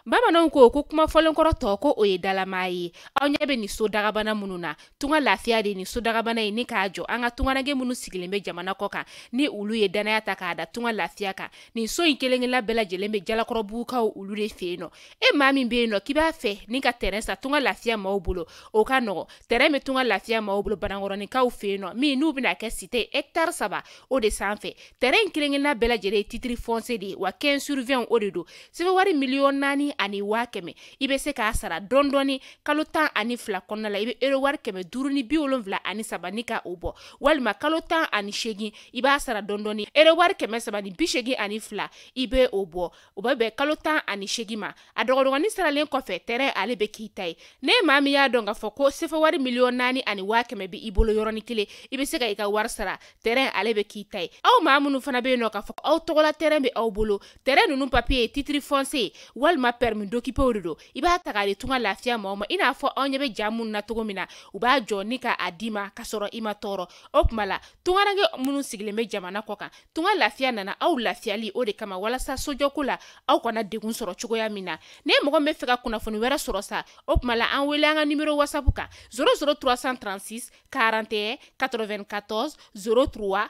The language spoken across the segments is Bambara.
bamananw ko ko kuma fɔlenkɔrɔ tɔ ko o ye dalamaa ye aw ɲɛ bɛ nin so dagabana minnu na tunga lafiya de ye nin so dagabana ye ni k'a jɔ an ka tungaranke minnu sigilen bɛ jamana kɔ kan ni olu ye dannaya ta k'a da tunga lafiya kan nin so in kelen-kelenna bɛɛ lajɛlen bɛ jalakɔrɔbugukaw olu de fɛ yen nɔ e maa min bɛ yen nɔ k'i b'a fɛ ni ka tɛrɛn san tunga lafiya maaw bolo o ka nɔgɔ tɛrɛn bɛ tunga lafiya maaw bolo banankɔrɔninkaw fɛ yen nɔ min n'u bɛna kɛ site hɛkitari saba o de sanfɛ tɛrɛn in kelen-kelenna bɛɛ lajɛlen ye titiri fɔnse de ye wa 15 sur 20 o de don sɛfɛwari miliyɔn naani ani waa kɛmɛ i bɛ se k'a sara dɔɔni kalo tan ani fila kɔnɔna la i bɛ erowari kɛmɛ duuru ni bi wolonwula ani saba ni ka o bɔ walima kalo tan ani seegin i b'a sara dɔɔni erowari kɛmɛ saba ni bi seegin ani fila i bɛ o bɔ o bɛ bɛn kalo tan ani seegin ma a dɔgɔdɔgɔnin saralen kɔfɛ tɛrɛn ale bɛ k'i ta ye n'e maa min y'a dɔn k'a fɔ ko sɛfɛwari miliyɔn naani ani waa kɛmɛ bɛ i bolo yɔrɔnin kelen i bɛ se ka i ka wari sara tɛrɛn ale bɛ k'i ta ye aw maa minnu fana bɛ yen nɔ k'a fɔ aw tɔgɔla tɛrɛn bɛ aw bolo tɛrɛn ninnu papiye titiri fɔnse walima pɛrɛmi dokipe o de don i b'a ta k'a di tunga lafiya maaw ma i n'a fɔ aw ɲɛ bɛ ja minnu na cogo min na u b'a jɔ ni ka a d'i ma ka sɔrɔ i ma tɔɔrɔ o tuma la tungaranke minnu sigilen bɛ jamana kɔ kan tunga lafiya nana aw lafiyali o de kama walasa sojɔko la aw kana degun sɔrɔ cogoya min na ni mɔgɔ b'a fɛ ka kunnafoni wɛrɛ sɔrɔ sa o tuma la an wele an ka nimero wasapu kan 00 336 41 94 03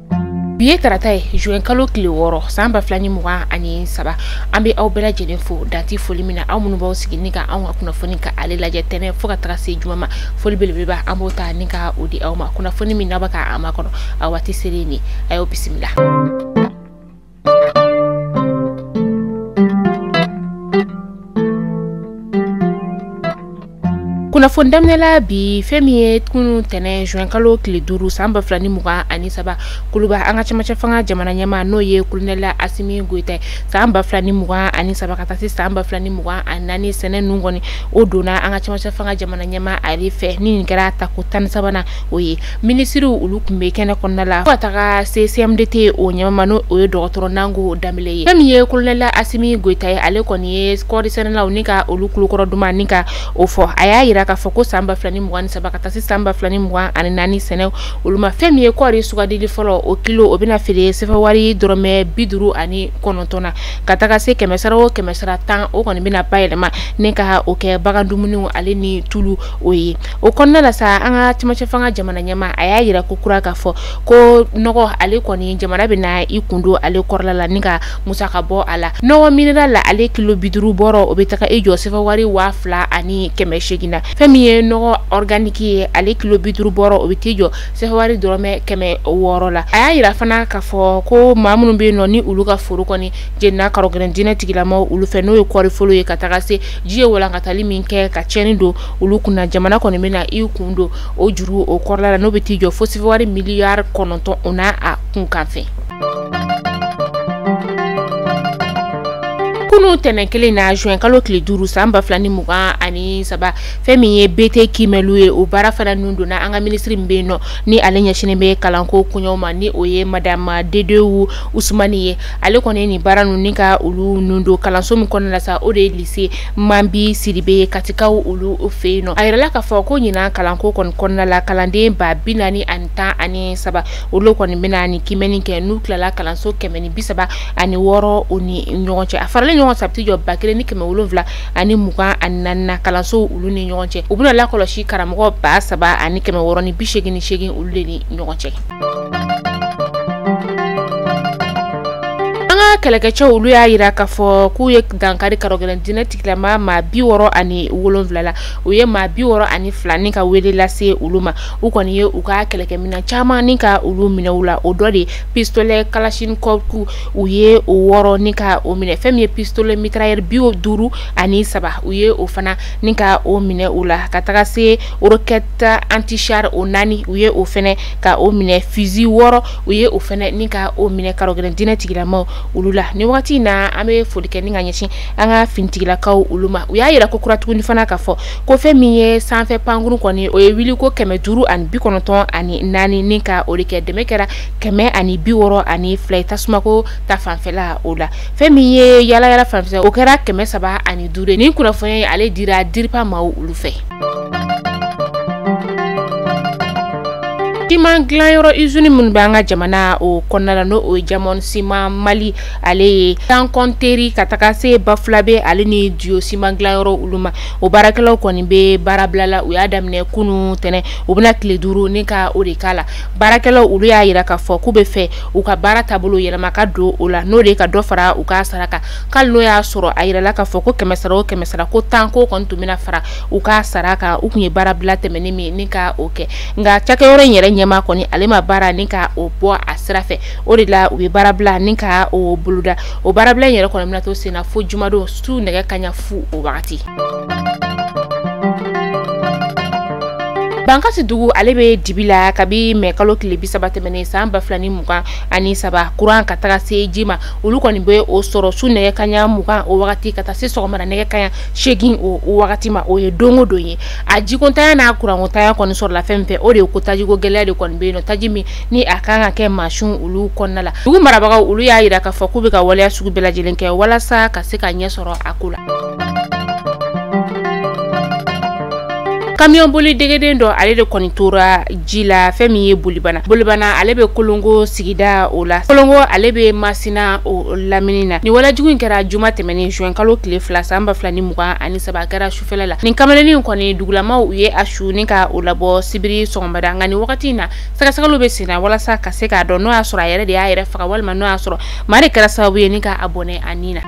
bi ye tarata ye juin kalo tile wɔɔrɔ san ba fila ni mugan ani saba an bɛ aw bɛɛ lajɛlen fo dan tɛ foli min na aw minnu b'aw sigi ni ka anw ka kunnafoni ka ale lajɛ tɛnɛn fo ka taga se juma ma foli belebeleba an b'o ta ni ka o di aw ma kunnafoni min n'a bɛ ka a makɔnɔ a waati selen ni a y'o bisimila kunnafoni daminɛla bi fɛn min ye kunu tɛnɛn juin kalo tile duuru san ba fila ni mugan ani saba kuluba an ka cɛmancɛ fanga jamana ɲɛmaa n'o ye kolonɛla asimi goyita ye san ba fila ni mugan ani saba ka taa se san ba fila ni mugan ani naani sɛnɛ nun kɔni o donna an ka cɛmancɛ fanga jamana ɲɛmaa ale fɛ ni nin kɛra tako tan ni sabanan o ye minisiriw olu tun bɛ kɛnɛ kɔnɔna la fo ka taga se CMDT o ɲɛmaa n'o ye dɔgɔtɔrɔ Nango Danbele ye fɛn min ye kolonɛla Asimi Goyita ye ale kɔni ye kɔɔri sɛnɛlaw ni ka olu kulokɔrɔ duman ni ka o fɔ a y'a jira k'a fɔ ko san ba fila ni mugan ni saba ka taa se san ba fila ni mugan ani naani sɛnɛ olu ma fɛn min ye kɔɔri sugandili fɔlɔ o kilo o bɛna feere sɛfɛwari dɔrɔmɛ bi duuru ani kɔnɔntɔn na ka taga se kɛmɛ sara o kɛmɛ sara tan o kɔni bɛna bayɛlɛma ni ka o kɛ bagan dumuniw ale ni tulu o ye o kɔnɔna la sa an ka cɛmancɛ fanga jamana ɲɛmaa a y'a yira ko kura k'a fɔ ko nɔgɔ ale kɔni jamana bɛ na i kun don ale kɔrɔla la ni ka musaka bɔ a la nɔgɔ mineral la ale kilo bi duuru bɔrɔ o bɛ taga i jɔ sefa wari waa fila ani kɛmɛ seegin na fɛn min ye nɔgɔ organique ye ale kilo bi duuru bɔrɔ o bɛ t'i jɔ sefa wari dɔrɔmɛ kɛmɛ wɔɔrɔ la a y'a yira fana k'a fɔ ko maa minnu bɛ yen nɔ ni olu ka foro kɔni jenina karɔgɛlɛn diinɛ tigilamaw olu fɛ n'o ye kɔɔriforo ye ka taga se ji ye walankatali min kɛ ka tiɲɛni don olu kunna jamana kɔni bɛ na i kun don o juru o kɔrɔla la n'o bɛ t'i jɔ fo sefa wari miliyari kɔnɔntɔn o n'a kunkanfɛn kunu tɛnɛn kelen na juin kalo tile duuru san ba fila ni mugan ani saba fɛn min ye BT kiimɛliw ye o baara fana nun donna an ka minisiri min bɛ yen nɔ ni ale ɲɛsinnen bɛ kalanko koɲɛw ma ni o ye madama dedewu usumani ye ale kɔni ye nin baara ninnu ni ka olu nun don kalanso min kɔnɔna la sa o de ye lise mambi sidibe ye katikaw olu fɛ yen nɔ a yirala k'a fɔ ko ɲinan kalanko kɔni kɔnɔna la kalanden ba bi naani ani tan ani saba olu kɔni bɛna nin kiimɛni kɛ n'u tilala kalanso kɛmɛ ni bi saba ani wɔɔrɔ o ni ɲɔgɔn cɛ a faralen ɲɔgɔn sa a bɛ t'i jɔ ba kelen ni kɛmɛ wolonwula ani mugan ani naani na kalansow olu ni ɲɔgɔn cɛ u bɛna lakɔlɔsi karamɔgɔ ba saba ani kɛmɛ wɔɔrɔ ni bi seegin ni seegin olu de ni ɲɔgɔn cɛ an ka kɛlɛkɛcɛw olu y'a yira k'a fɔ k'u ye dankari karɔgɛlɛn diinɛ tigilama maa bi wɔɔrɔ ani wolonwula la u ye maa bi wɔɔrɔ ani fila ni ka wele lase olu ma u kɔni ye u ka kɛlɛkɛminɛn caman ni ka olu minɛ u la o dɔ de pistolɛ kalachnikov u ye o wɔɔrɔ ni ka o minɛ fɛn min ye pistolɛ mitrailleur bi duuru ani saba u ye o fana ni ka o minɛ u la ka taga se roquette antichar o naani u ye o fɛnɛ ka o minɛ fusil wɔɔrɔ u ye o fɛnɛ ni ka o minɛ karɔgɛlɛn diinɛ tigilamaw olu la nin wagati na an bɛ foli kɛ ni ka ɲɛsin an ka finitigilakaw olu ma u y'a yira ko kura tuguni fana ka fɔ ko fɛn min ye sanfɛ pankuru kɔni o ye wuli ko kɛmɛ duuru ani bi kɔnɔntɔn ani naani ni ka o de kɛ dɛmɛ kɛra kɛmɛ ani bi wɔɔrɔ ani fila ye tasumako ta fanfɛla o la fɛn min ye yaala yaala fanfɛ o kɛra kɛmɛ saba ani duuru ye nin kunnafoniya in ale dira diripa maaw olu fɛ siman dilanyɔrɔ izini minnu bɛ an ka jamana o kɔnɔna la n'o ye jamɔn siman mali ale ye gangonteri ka taga se bafulabe ale ni diyo siman dilanyɔrɔ olu ma o baarakɛlaw kɔni bɛ baarabila la u y'a daminɛ kunu tɛnɛn u bɛna tile duuru ni ka o de k'a la baarakɛlaw olu y'a yira k'a fɔ k'u bɛ fɛ u ka baara taabolo yɛlɛma ka don o la n'o de ye ka dɔ fara u ka sara kan k'ali n'o y'a sɔrɔ a yirala k'a fɔ ko kɛmɛ sara o kɛmɛ sara ko tan k'o kɔni tun bɛna fara u ka sara kan u tun ye baarabila tɛmɛnen min ni ka o kɛ nka cakɛyɔrɔ in yɛrɛ ɲɛmaa kɔni ale ma baara ni ka o bɔ a sira fɛ o de la u ye baarabila ni ka o boloda o baarabila in yɛrɛ kɔni bɛna to senna fo jumadon su nɛgɛ kaɲa fu o wagati bankasi dugu ale bɛ dibi la kabi mɛ kalo tile bi saba tɛmɛnen san ba fila ni mugan ani saba kuran ka taga se ji ma olu kɔni bɛ o sɔrɔ su nɛgɛ kaɲa mugan o wagati ka taa se sɔgɔmada nɛgɛ kaɲa seegin o wagati ma o ye don o don ye a jikontanya n'a kurankontanya kɔni sɔrɔla fɛn min fɛ o de ye ko tajiko gɛlɛya de kɔni bɛ yen nɔ taji min ni a kan ka kɛ mansinw olu kɔnɔna la dugu marabagaw olu y'a yira k'a fɔ k'u bɛ ka waleya sugu bɛɛ lajɛlen kɛ walasa ka se ka ɲɛ sɔrɔ a ko la kamiyɔn boli degeden dɔ ale de kɔni tora ji la fɛn min ye bolibana bolibana ale bɛ kolongo sigida o la kolongo ale bɛ masina o lamini na nin walajugu in kɛra juma tɛmɛnen juin kalo tile fila san ba fila ni mugan ani saba kɛra sufɛla la nin kamalennin in kɔni dugulamaw u ye a su ni ka o labɔ sibiri sɔgɔmada nka nin wagati in na sɛgɛsɛgɛliw bɛ senna walasa ka se k'a dɔn n'o y'a sɔrɔ a yɛrɛ de y'a yɛrɛ faga walima n'o y'a sɔrɔ maa de kɛra sababu ye ni ka a bɔnɛ a ni na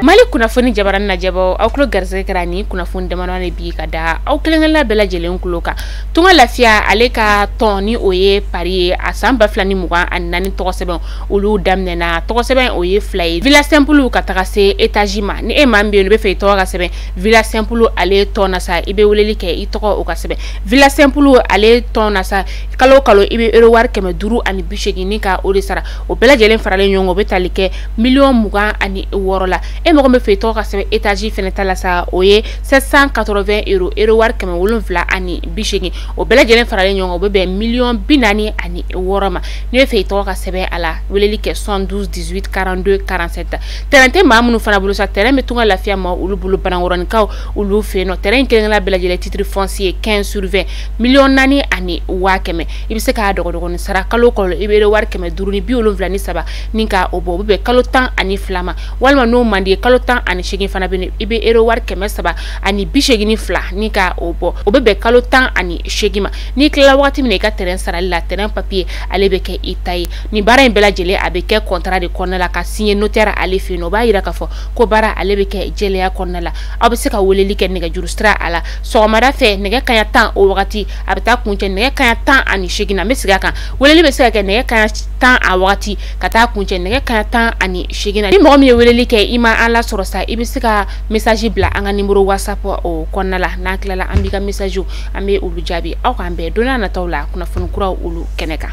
mali kunnafoni jabarani lajɛbaaw aw tulo garisɛgɛ kɛra ni kunnafoni damadɔ de bi ka da aw kelen-kelenna bɛɛ lajɛlen kulo kan tunga lafiya ale ka tɔn ni o ye pari ye a san ba fila ni mugan ani naani tɔgɔsɛbɛn olu daminɛna tɔgɔsɛbɛn o ye fila ye villa sɛnpulu ka taga se etazi ma ni e maa min bɛ yen n'o b'a fɛ i tɔgɔ ka sɛbɛn villa sɛnpulu ale tɔn na sa i bɛ weleli kɛ i tɔgɔ o ka sɛbɛn villa sɛnpulu ale tɔn na sa kalo kalo i bɛ euro wari kɛmɛ duuru ani bi seegin ni ka o de sara o bɛɛ lajɛlen faralen ɲɔgɔn kan o bɛ tali kɛ miliyɔn mugan ani wɔɔrɔ la e mɔgɔ min b'a fɛ i tɔgɔ ka sɛbɛn etazi fana ta la sa o ye 780 euro euro wari kɛmɛ wolonwula ani bi seegin o bɛɛ lajɛlen faralen ɲɔgɔn kan o bɛ bɛn miliyɔn bi naani ani wɔɔrɔ ma n'i b'a fɛ i tɔgɔ ka sɛbɛn a la weleli kɛ 72 18 42 47 tɛrɛn tɛ maa minnu fana bolo sa tɛrɛn bɛ tunga lafiya ma olu bolo banankɔrɔninkaw olu fɛ yen nɔ tɛrɛn in kelen-kelenna bɛɛ lajɛlen titre foncier 15 sur 20 miliyɔn naani ani waa kɛmɛ i bɛ se k'a dɔgɔdɔgɔni sara kalo kalo i bɛ wari kɛmɛ duuru ni bi wolonwula ni saba ni ka o bɔ o bɛ bɛn kalo tan ani fila ma walima n'o man di i ye kalo tan ani seegin fana bɛ yen i bɛ euro wari kɛmɛ saba ani bi seegin ni fila ni ka o bɔ o bɛ bɛn kalo tan ani seegin ma n'i tilala wagati min na i ka tɛrɛn sarali la tɛrɛn papiye ale bɛ kɛ i ta ye nin baara in bɛɛ lajɛlen a bɛ kɛ kɔntara de kɔnɔna la ka siɲɛ notɛri ale fɛ yen nɔ o b'a yira k'a fɔ ko baara ale bɛ kɛ jɛlenya kɔnɔna la aw bɛ se ka weleli kɛ nɛgɛjuru sira a la sɔgɔmada fɛ nɛgɛ kaɲa tan o wagati a bɛ taa kuncɛ nɛgɛ kaɲa tan ani seegin na n bɛ segin a kan weleli bɛ se ka kɛ nɛgɛ kaɲa tan a wagati ka taa kuncɛ nɛgɛ kaɲa tan ani seegin na ni mɔgɔ min ye weleli kɛ i ma an lasɔrɔ sa i bɛ se ka mesaji bila an ka nimoro whatsapp o kɔnɔna la n'an tilala an b'i ka mesajiw an bɛ olu jaabi aw k'an bɛn don n'a nataw la kunnafoni kuraw olu kɛnɛ kan.